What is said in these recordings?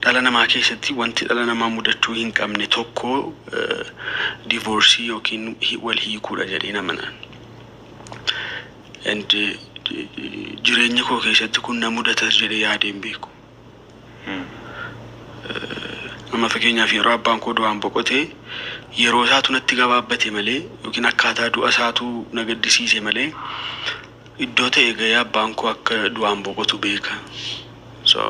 Dhala namaa keessatti wanti dhala namaa mudachuu hin qabne tokko divorce yookiin wal hiikuudha jedheen amana. And jireenya koo keessatti kun na mudatas jedhee yaadee hin beeku. Amma fakkeenyaaf yeroo abbaan koo du'aan boqote yeroo isaatu natti gabaabbate malee yookiin akkaataa du'a isaatu na gaddisiise malee iddoo ta'e ga'ee abbaan koo akka du'aan boqotu beeka. So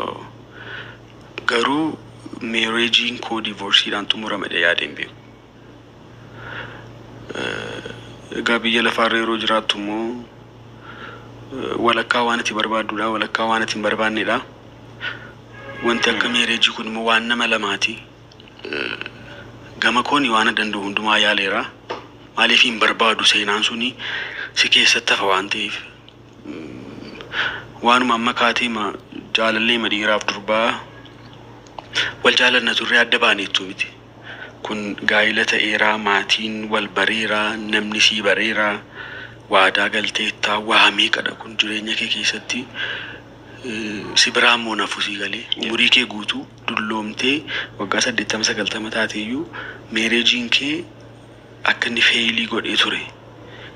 Garuu marriage'n koo divorceedhaan xumurama jedhee yaadee hin beeku. Eh, Egaa biyya lafaarra yeroo jiraattu immoo eh, walakkaa waan ati barbaadduudha, walakkaa waan ati hin barbaanneedha. Wanti akka marriage kun immoo waan nama lamaati. Eh, Gama kooni waan danda'u hundumaa yaaleera. Maaliif hin barbaadu seenaan suni si keessatti hafa waan ta'eef. Waanuma amma kaateema jaalalleema dhiiraaf durbaa wal jaalanna turree adda baane jechuu miti. Kun gaa'ila ta'eera, maatiin wal bareera, namni sii bareera, waadaa galteetta, waa meeqadha kun jireenya kee keessatti si biraa immoo hin hafu sii galee. Umurii kee guutuu dulloomtee waggaa 80, 90 taateeyyuu meereejiin kee akka inni fail godhee ture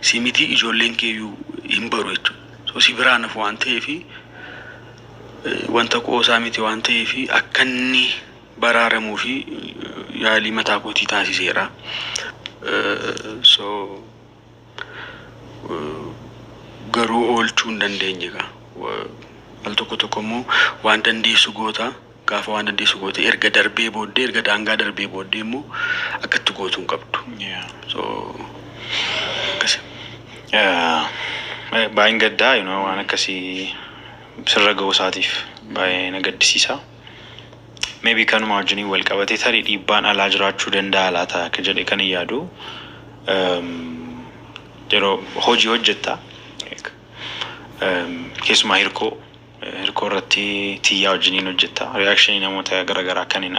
si mitii ijoolleen kee iyyuu hin baru jechuudha. So si biraan hafu waan ta'eef wanta qoosaa miti waan ta'eef akka inni baraaramu fi yaalii mataa kootii taasiseera. So garuu oolchuu hin dandeenye egaa. Al tokko tokko immoo waan dandeessu goota. Gaafa waan dandeessu goote erga darbee booddee erga daangaa darbee booddee immoo akka itti gootu hin qabdu. Yeah. So akkasi. Yeah. Baay'een gaddaa you know, waan akkasii sirra ga'uu isaatiif baay'ee na gaddisiisa. Maybe kanuma wajjiniin wal qabatee tarii dhiibbaan alaa jiraachuu danda'a laata akka jedhe kan hin yaadu. Um, yeroo hojii hojjetta like, um, keessumaa hirkoo Hirkoo irratti tiyyaa wajjin hin hojjetta. Reaction namoota gara garaa kan hin